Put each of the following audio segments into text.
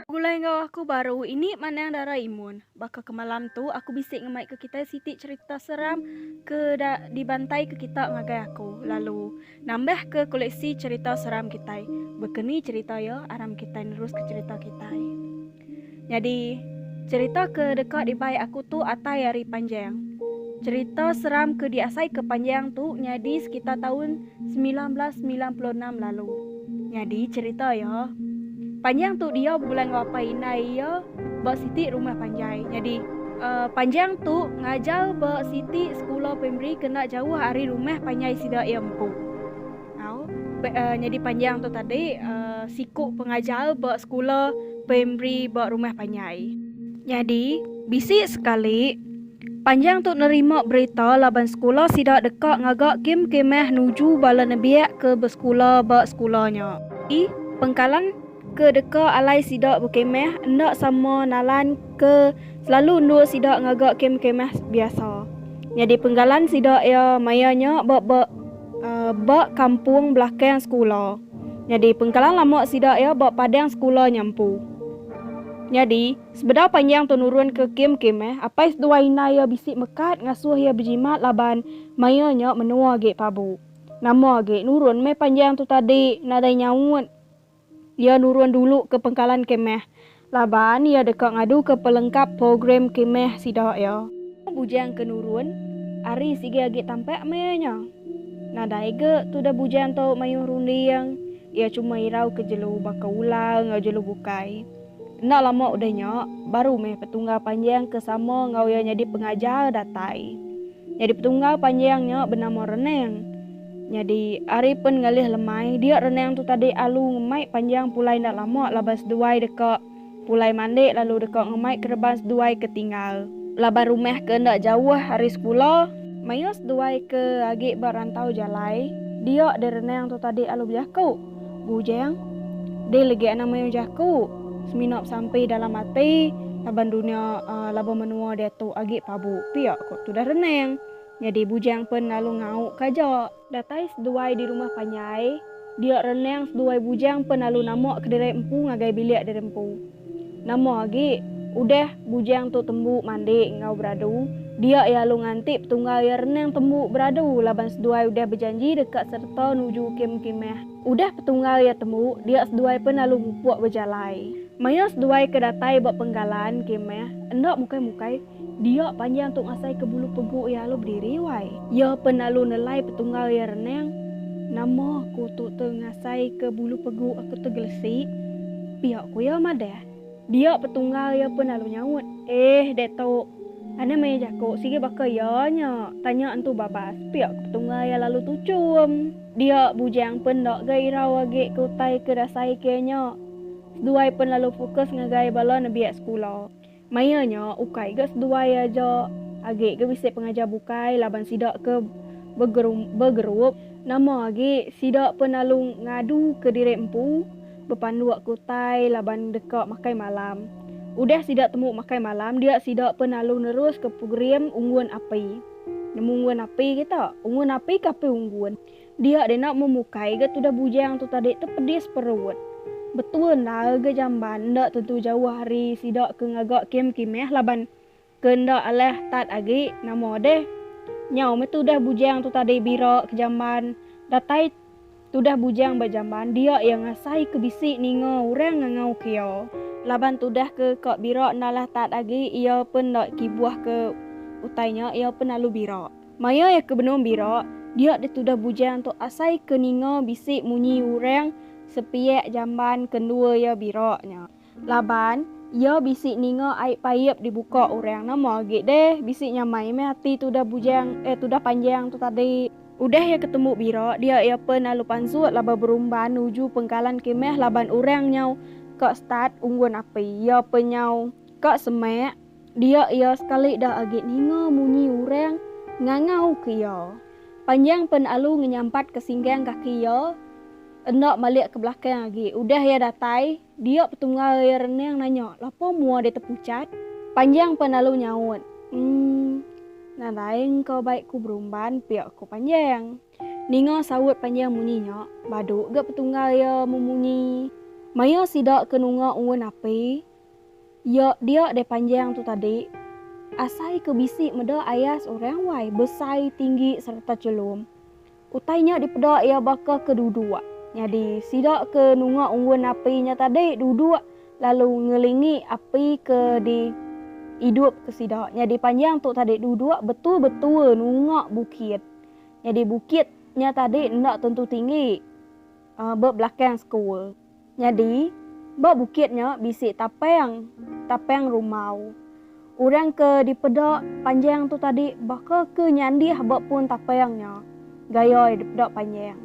Begulai enggau aku baru ini manang Dara Imun. Baka ke malam tu aku bisi ngemaika kitai siti cherita seram ke da dibantaika kita ngagai aku lalu nambahka koleksi cherita seram kitai. Baka ni cherita iya aram kitai neruska cherita kitai. Nyadi, cherita ke deka dibai aku tu atai ari panjang. Cherita seram ke diasaika panjang tu nyadi sekitar taun semilan belas semilan puluh enam lalu. Nyadi cherita iya, panjang tu diau begulai enggau apai indai iya ba siti rumah panjai. Nyadi, Uh, panjang tu ngajar ba siti sekula primari kena jauh ari rumah panjai sida iya empu. Au, nyadi panjang tu tadi siku pengajar ba sekula primari ba rumah panjai. Nyadi, bisi sekali, panjang tu nerima berita laban sekula sida deka ngaga kem kemah nuju bala nembiak ke besekula ba sekula nya. Ii, Pengkalan. Ke deka alai sida bekemah enda sama nalan ke selalu endur sida ngaga kem kemah biasa. Nyadi penggalan sida iya maya nya ba ba ba kampung belakang sekula. Nyadi pengkalan lama sida iya ba padang sekula nya empu. Nyadi, sebedau panjang tu nurun ke kem kemah, apai seduai indai iya bisi mekat ngasuh iya bejimat laban maya nya menua agi pabu. Nama agi, nurun meh panjang tu tadi nadai nyaut. Iya nurun dulu ke pengkalan kemah laban iya deka ngaduka pelengkap program kemah sida iya. Bujang ke nurun ari sigi agi tampak maya nya. Nadai ga tudah bujang tu mayuh runding, iya chuma irau ke jelu baka ular enggau jelu bukai. Enda lama udah nya, baru meh petunggal panjang ke sama enggau iya nyadi pengajar datai. Nyadi petunggal panjang nya benama Renang. Nyadi, ari pen ngalih lemai, dia Renang tu tadi alu ngemai panjang pulai enda lama laban seduai deka pulai mandi lalu deka ngemai kereban seduai ke tinggal. Laban rumah ke enda jauh ari sekula, maya seduai ke agi ba rantau jalai, dia deh Renang tu tadi alu bejaku. Bujang, deh legi anang mayuh jaku semina besampi dalam ati laban dunya laban menua diatu agi pabu pia ko tudah renang. Nyadi Bujang pen lalu ngau ka aja. Datai seduai di rumah panjai, dia renang seduai Bujang pen lalu nama kediri empu ngagai bilik diri empu. Nama agi, udah bujang tu tembu mandi enggau beradu, dia iya alu nganti petunggal iya renang tembu beradu laban seduai udah bejanji deka sereta nuju kem kimah. Udah petunggal iya tembu, dia seduai pen alu mupuk bejalai. Maya seduai ke datai ba penggalan kimah, enda mukai-mukai. Dia panjang tu ngasai ke bulu pegu iya lalu bediri wai. Iya pen lalu nelai petunggal iya renang, Nama aku tu te ngasai ke bulu pegu aku te gelesi? pia ku iya madah. Dia petunggal iya pen lalu nyaut, Eh deh tu, ane maya jaku sigi baka iya nya, tanya entu babas, pia ku petunggal iya lalu tuchum. Dia bujang pen enda ga irau agi ke utai ke dasai ke iya nya. Seduai pen lalu fokus ngagai bala nebiak sekula. Maya nya, ukai ga seduai aja agi ke bisi pengajar bukai laban sida ke begerup, nama agi sida pun lalu ngadu ke diri empu bepanduk ke utai laban deka makai malam. Udah sida temu makai malam dia sida pun lalu nerus ke program Unggun Api. Nemu Unggun Api kita? Unggun Api ke Api Unggun? Dia deh enda mu mukai ga tudah bujang tu tadi tepedis perut. Betul enda ga jamban enda tentu jauh ari sida ke ngaga kem kimeh laban ke enda alah tat agi nama deh. Nyau meh tudah bujang tu tadi bira ke jamban datai tudah bujang ba jamban dia iya ngasai ke bisi ninga orang ngangau ke iya. Laban tudah ke ka bira enda alah tat agi iya pen enda kibuh ke utai nya iya pen lalu bira. Maya iya ke benung bira, dia ditudah bujang tu asai ke ninga bisi munyi urang sepiak jamban ke endua iya bira nya. Laban, iya bisi ninga ai paip dibuka urang nama agi deh bisi nyamai meh ati tudah bujang eh tudah panjang tu tadi. Udah iya ke tembu bira dia iya pen lalu pansut laban berumban nuju pengkalan ke meh laban urang nyau ka start unggun api iya pen nyau ka semak Dia iya sekali dah agi ninga munyi urang ngangau ke iya. Panjang pen alu ngenyampat ke singgang kaki iya enda malik ke belakang agi. Udah iya datai, dia petungau iya renang nanya, Lapa mua deh tepuchat? Panjang pen alu nyaut, Emm. Nadai engka bai ku berumban pia ku Panjang. Ninga saut Panjang munyi nya, badu ga petungau iya memunyi. Maya sida ke nunga unggun api. Iya dia deh panjang tu tadi. Asai ke bisi meda ayas orang wai besai tinggi sereta chelum. Utai nya dipeda iya baka ke duduk. Nyadi sida ke nunga unggun api nya tadi duduk lalu ngelingi api ke di idup ke sida. Nyadi panjang tu tadi duduk betul-betul nunga bukit. Nyadi bukit nya tadi enda tentu tinggi. Ba belakang sekul. Nyadi, ba bukit nya bisi tapang, tapang rumau. Orang ke dipeda panjang tu tadi baka ke nyandih ba pun tapang nya, gayai dipeda panjang.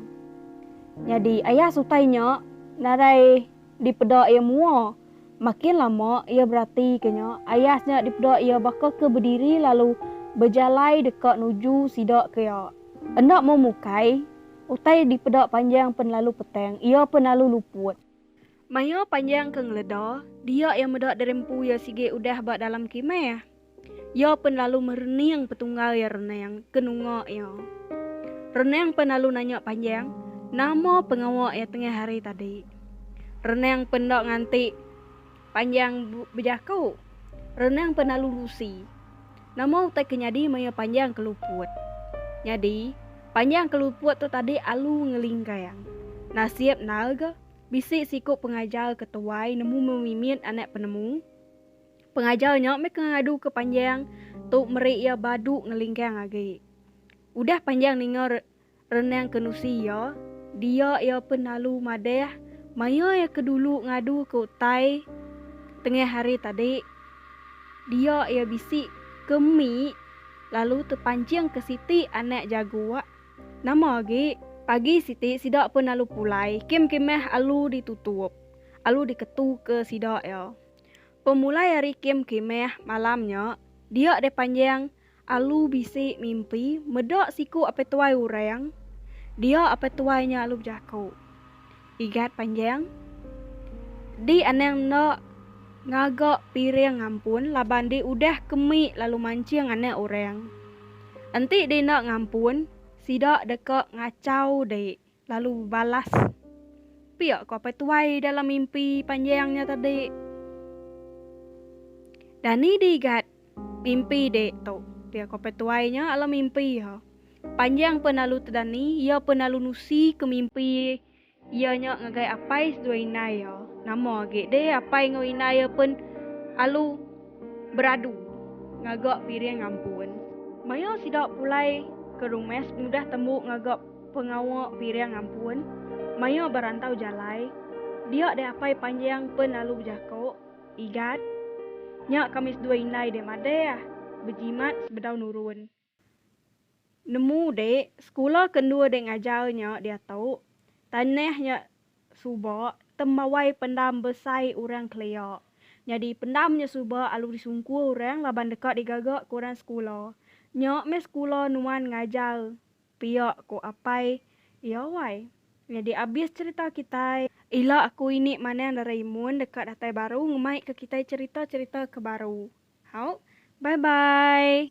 Nyadi, ayah sutai nya narai dipeda iya mua. Makin lama iya beratika nya, ayah nya dipeda iya baka ke bediri lalu bejalai deka nuju sida ke iya. Enda mau mukai. Utai dipeda panjang penelalu petang, iya penelalu luput. Maya panjang ke ngeleda, dia iya meda derempu iya sigi udah ba dalam kimah. Iya penelalu merening petunggal iya renang ke nunga iya. Renang penelalu nanya panjang, nama pengawa iya tengah hari tadi. Renang penda nganti. Panjang bejaku, renang penalu lusi. Nama utai ke nyadi maya panjang keluput? Nyadi, panjang keluput tu tadi alu ngelinggang. Nasib nal ga, bisi siku pengajar ke tuai nemu memimit anak penemu. Pengajar nya meh ke ngadu ke panjang tu meri iya badu ngelinggang agi. Udah panjang ninga Renang ke nusi iya, dia iya pen lalu madah maya iya ke dulu ngadu ke utai tengah hari tadi. Dia iya bisi ke mi lalu tepanching ke siti anak jagu wak nama agi. Pagi siti sida pen lalu pulai kem kemah alu di tutup alu di ketu ke sida iya. Pemulai hari kem kemah malam nya dia deh panjang Alu bisi mimpi meda siku apai tuai orang dia apai tuai nya alu bejaku igat panjang di anang enda ngaga piring ngampun laban di udah kemi lalu manching anak orang enti di enda ngampun sida deka ngachau di. Lalu bebalas, Pia ku apai tuai dalam mimpi panjang nya tadi. Dani digat mimpi dek tu, pia ku apai tuai nya alam mimpi iya. Panjang pun lalu tu Dani, iya pun lalu nusi ke mimpi iya nya ngagai apai seduai indai iya. Nama agi deh apai enggau indai iya pun alu beradu ngaga piring ampun. Maya sida pulai ke rumah semudah tembu ngaga. Pengawa piring ampun, maya berantau jalai, dia deh apai panjang pen lalu bejako, Igat, nya kami sedua indai deh madeh, bejimat sebedau nurun. Nemu dek, sekula ke endur dek ngajar nya diatu, tanah nya suba tembawai pendam besai orang kelia. Nyadi pendam nya suba alu disungkur orang laban deka digaga ke orang sekula. Nya meh sekula nuan ngajar. Pia ku apai iya wai. Nyadi abis cerita kitai. Ila aku ini manang Doraemon deka datai baru ngemai ke kitai cerita cerita ke baru hau bye bye.